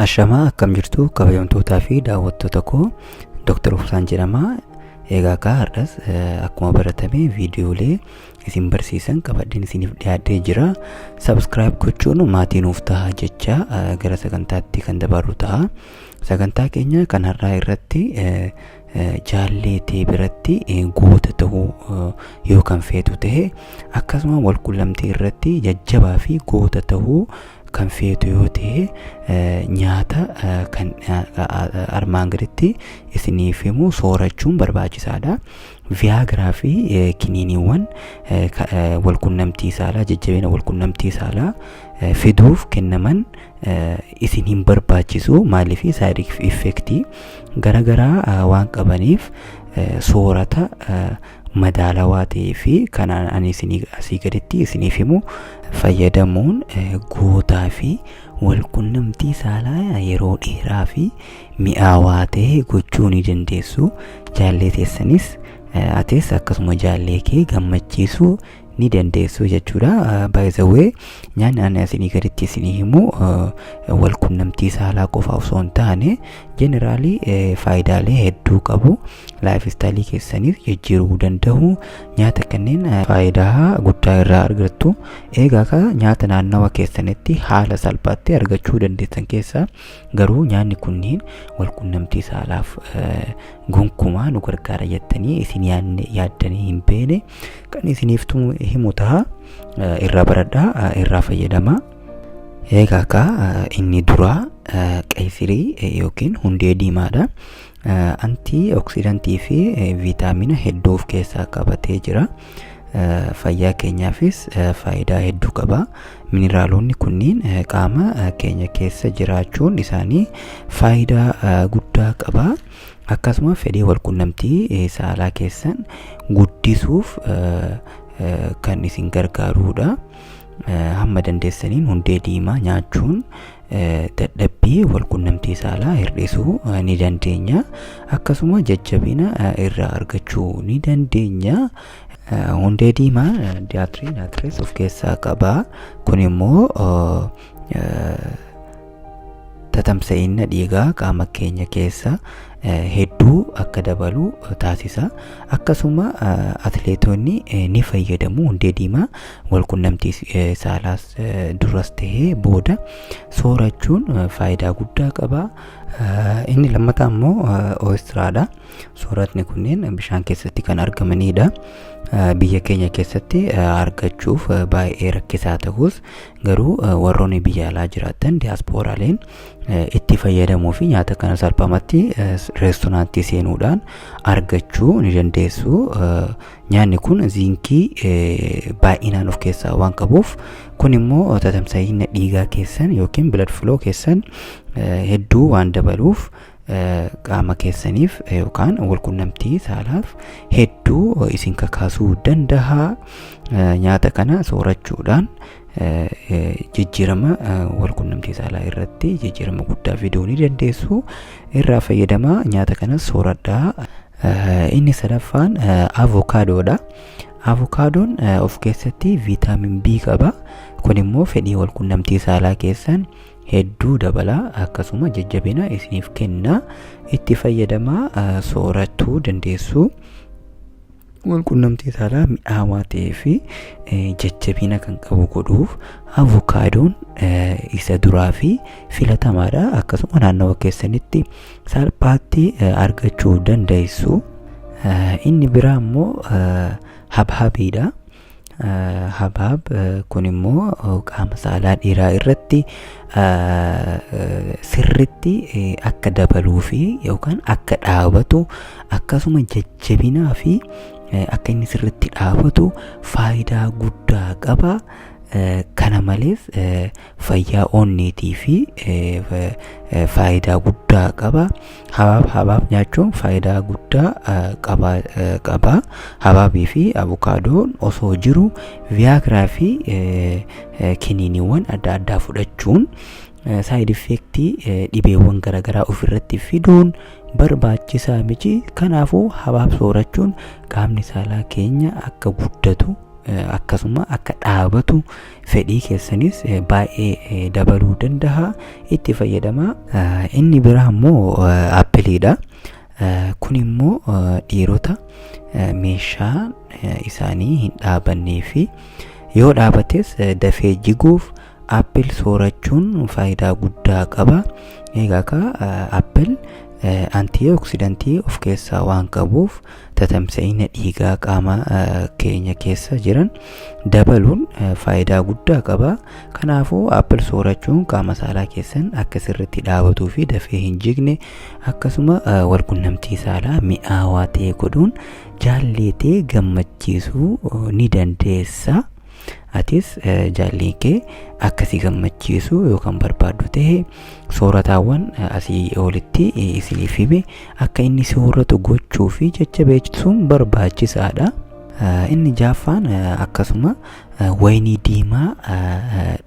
Ashamaa akkam jirtu kabajamtootaa fi daawwattoota koo Dr. Obsaan jedhama. Egaa akka har'as eh, akkuma baratame viidiyoolee isin barsiisan qabadheen isiniif dhiyaadhee jira. Subscribe gochuun maatii nuuf ta'a jecha eh, gara sagantaatti kan dabarru ta'a. Sagantaa keenya kan har'aa irratti eh, jaallee tee biratti goota ta'uu yoo kan feetu ta'e akkasuma walqunnamtii irratti jajjabaa fi goota ta'uu kan feetu yoo ta'e nyaata kan armaan gaditti isiniif himu soorachuun barbaachisaadha. Viyaagiraa fi kiniiniiwwan walqunnamtii saalaa jajjabina walqunnamtii saalaa fiduuf kennaman isin hin barbaachisu maaliif saayid effektii garagaraa waan qabaniif soorata madaalawaa ta'ee fi kanaan ani isinii asii gaditti isiniif himu fayyadamuun gootaa fi walqunnamtii saalaa yeroo dheeraa fi mi'aawaa ta'e gochuu ni dandeessu jaallee teessanis atis akkasuma jaallee kee gammachiisuu ni dandeessu jechuudha. By the way nyaanni ani asinii gaditti isinii himu wal qunnamtii saalaa qofa osoo hin taane jeneraalii faayidaalee hedduu qabu. Laayif istaayilii keessaniif jijjiiruu danda'u. Nyaata kanneen faayidaa guddaa irraa argattu. Egaa ka nyaata naannawa keessanitti haala salphaatti argachuu dandeessan keessaa garuu nyaanni kunniin wal qunnamtii saalaaf gonkumaa nu gargaara jettanii isin yaaddanii hin beekne. kan isiniif tumu himu taha Eh, irraa baradhaa eh, irraa fayyadamaa eegaa akka eh, inni duraa eh, qaysirii eh, yookiin hundee diimaadha Eh, antii oksidantii fi eh, viitaamina hedduu of keessaa qabatee jira Eh, fayyaa keenyaafis eh, faayidaa hedduu qaba mineraalonni kunniin eh, qaama eh, keenya keessa jiraachuun isaanii faayidaa eh, guddaa qaba Akkasuma fedhii walqunnamtii saalaa keessan guddisuuf kan isin gargaaruudha. Hamma dandeessaniin hundee diimaa nyaachuun dadhabbii walqunnamtii saalaa hir'isuu ni dandeenya. Akkasuma jajjabina irraa argachuu ni dandeenya. Hundee diimaa diyaatirii naatirees of keessaa qaba. Kun immoo tatamsa'inna dhiigaa qaama keenya keessa hedduu akka dabalu taasisa akkasuma atleetonni ni fayyadamu hundee diimaa walqunnamtii saalaas duras ta'ee booda soorachuun faayidaa guddaa qaba inni lammataa immoo oostiraadha sooratni kunneen bishaan keessatti kan argamanidha biyya keenya keessatti argachuuf baay'ee rakkisaa ta'us garuu warroonni biyya alaa jiraattan diyaaspooraaleen itti fayyadamuu fi nyaata kana salphamatti reestoraantii seenuudhaan argachuu ni dandeessu. Nyaanni kun ziinkii baay'inaan of keessaa waan qabuuf kun immoo tatamsa'ina dhiigaa keessan yookiin blood flow keessan hedduu waan dabaluuf qaama keessaniif yookaan walqunnamtii saalaaf hedduu isin kakaasuu danda'a nyaata kana soorachuudhaan jijjiirama walqunnamtii saalaa irratti jijjiirama guddaa fiduu ni dandeessu irraa fayyadamaa nyaata kanas sooradhaa inni sadaffaan avokaadoodha avokaadoon of keessatti viitaamin B qaba kun immoo fedhii walqunnamtii saalaa keessan hedduu dabala akkasuma jajjabina isiniif kenna itti fayyadamaa eh, sooratuu dandeessu. Walqunnamtii saalaa mi'aawaa ta'ee fi eh, jajjabina kan qabu godhuuf avokaadoon eh, isa duraa fi filatamaadha akkasuma naannawa keessanitti salphaatti eh, argachuu dandeessu. Eh, Inni biraa immoo eh, habhabiidha. habaab kun immoo qaama saalaa dhiiraa irratti sirritti akka dabaluu fi yookaan akka dhaabatu akkasuma jajjabinaa fi akka inni sirritti dhaabatu faayidaa guddaa qaba kana malees fayyaa onneetii fi faayidaa guddaa qaba. Habaab habaab nyaachuun faayidaa guddaa qaba qaba. Habaabii fi avokaadoon osoo jiru viyaagiraa fi kiniiniiwwan adda addaa fudhachuun saayid effeektii dhibeewwan garaagaraa ofirratti fiduun barbaachisaa miti. Kanaafuu habaab soorachuun qaamni saalaa keenya akka guddatu akkasuma akka dhaabatu fedhii keessanis baay'ee dabaluu danda'a itti fayyadama inni biraa immoo appiliidha kun immoo dhiirota meeshaa isaanii hin dhaabannee fi yoo dhaabates dafee jiguuf appil soorachuun faayidaa guddaa qaba egaa ka appil antioksidantii of keessaa waan qabuuf tatamsa'ina dhiigaa qaama keenya keessa jiran dabaluun faayidaa guddaa qaba. Kanaafuu appil soorachuun qaama saalaa keessan akka sirriitti dhaabatuu fi dafee hin jigne akkasuma walqunnamtii saalaa mi'aawaa ta'e godhuun jaalleetee gammachiisuu ni dandeessa. atis jaallii kee akka si gammachiisu yoo kan barbaaddu ta'e soorataawwan asii olitti isiniif hime akka inni sooratu gochuu fi jajjabeessuun barbaachisaadha. Inni jaaffaan akkasuma wayinii diimaa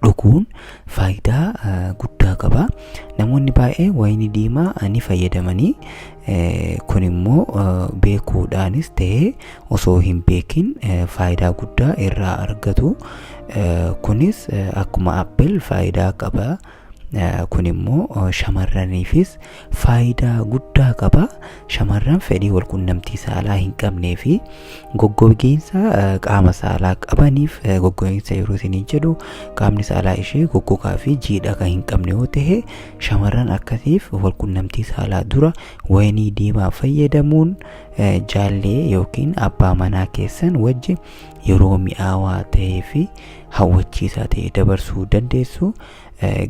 dhuguun faayidaa guddaa qaba. Namoonni baay'ee wayinii diimaa ni fayyadamanii kun immoo beekuudhaanis ta'ee osoo hin beekin faayidaa guddaa irraa argatu kunis akkuma appil faayidaa qaba kun immoo shamarraniifis faayidaa guddaa qaba shamarran fedhii walqunnamtii saalaa hin qabnee fi goggogiinsa qaama saalaa qabaniif goggogiinsa yeroo isiniin jedhu qaamni saalaa ishee goggogaa fi jiidha kan hin qabne yoo ta'e Shamarran akkasiif walqunnamtii saalaa dura wayinii diimaa fayyadamuun jaallee yookiin abbaa manaa keessan wajji yeroo mi'aawaa ta'ee fi hawwachiisaa ta'e dabarsuu dandeessu.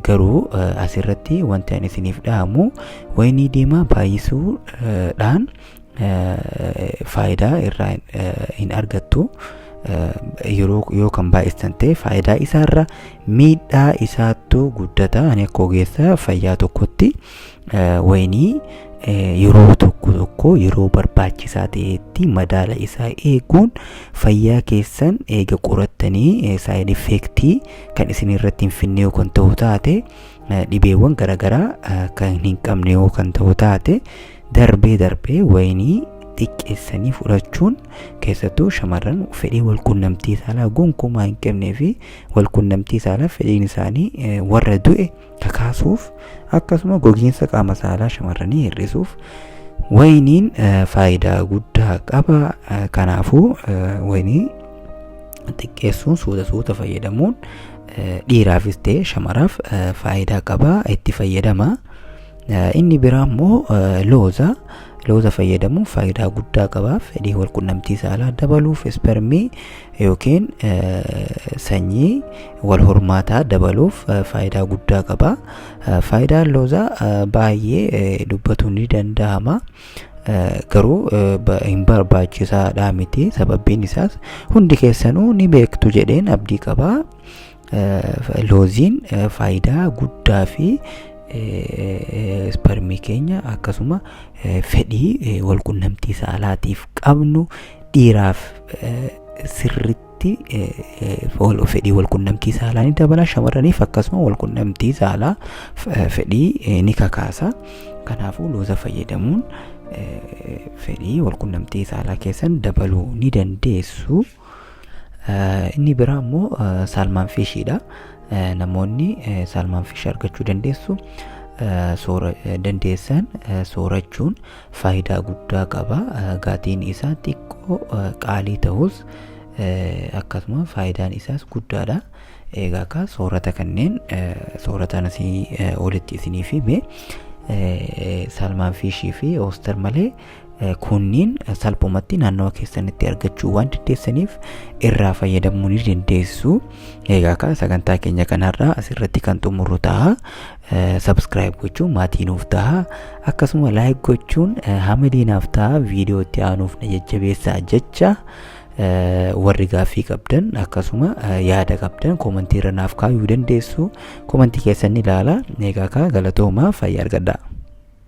Garuu asirratti wanti ani isiniif dhaamu wayinii diimaa baay'isuudhaan faayidaa irraa hin argattu yeroo yoo kan baay'istan ta'e faayidaa isaarra miidhaa isaattu guddata ani akka ogeessa fayyaa tokkotti wayinii yeroo tokko tokko yeroo barbaachisaa ta'etti madaala isaa eeguun fayyaa keessan eega qorattanii saayid effeektii kan isin irratti hin finne yoo kan ta'u taate dhibeewwan garaagaraa kan hin qabne yoo kan ta'u taate Darbee darbee wayinii xiqqeessanii fudhachuun keessattuu shamarran fedhii walqunnamtii saalaa gonkumaa hin qabnee fi walqunnamtii saalaa fedhiin isaanii eh, warra du'e kakaasuuf akkasuma gogiinsa qaama saalaa shamarranii hir'isuuf wayiniin eh, faayidaa guddaa qaba Eh, kanaafuu eh, wayinii xiqqeessuun suuta suuta fayyadamuun eh, dhiiraafis ta'e shamaraaf eh, faayidaa qaba itti fayyadama Inni biraa immoo looza. Looza fayyadamuun faayidaa guddaa qaba. Fedhii walqunnamtii saalaa dabaluuf ispermii yookiin sanyii wal hormaataa dabaluuf faayidaa guddaa qaba. Faayidaan loozaa baay'ee dubbatuun ni danda'ama. Garuu hin barbaachisaadhaa miti. Sababbiin isaas hundi keessanuu ni beektu jedheen abdii qaba. looziin faayidaa guddaa fi isparmii keenya akkasuma fedhii walqunnamtii saalaatiif qabnu dhiiraaf sirritti fedhii walqunnamtii saalaa ni dabala shamarraniif akkasuma walqunnamtii saalaa fedhii ni kakaasa kanaafuu looza fayyadamuun fedhii walqunnamtii saalaa keessan dabaluu ni dandeessu. Inni biraa immoo saalmaan fiishiidha. Namoonni saalmaan fiish argachuu dandeessu soora dandeessan soorachuun faayidaa guddaa qaba. Gatiin isaa xiqqoo qaalii ta'us akkasuma faayidaan isaas guddaadha. Egaa akka soorata kanneen soorataan asii olitti isiniif hime saalmaan fiishii fi oostar malee kunniin salphumatti naannawa keessanitti argachuu waan dandeessaniif irraa fayyadamuu ni dandeessu. Egaa akka sagantaa keenya kanarraa asirratti kan xumurru ta'a. Subscribe gochuun maatii nuuf ta'a. Akkasuma like gochuun hamilee naaf ta'a viidiyoo itti aanuuf na jajjabeessaa jecha warri gaaffii qabdan akkasuma yaada qabdan koomantii irra naaf kaa'uu dandeessu. Koomantii keessan ni ilaala. Egaa akka galatoomaa fayyaa argadhaa.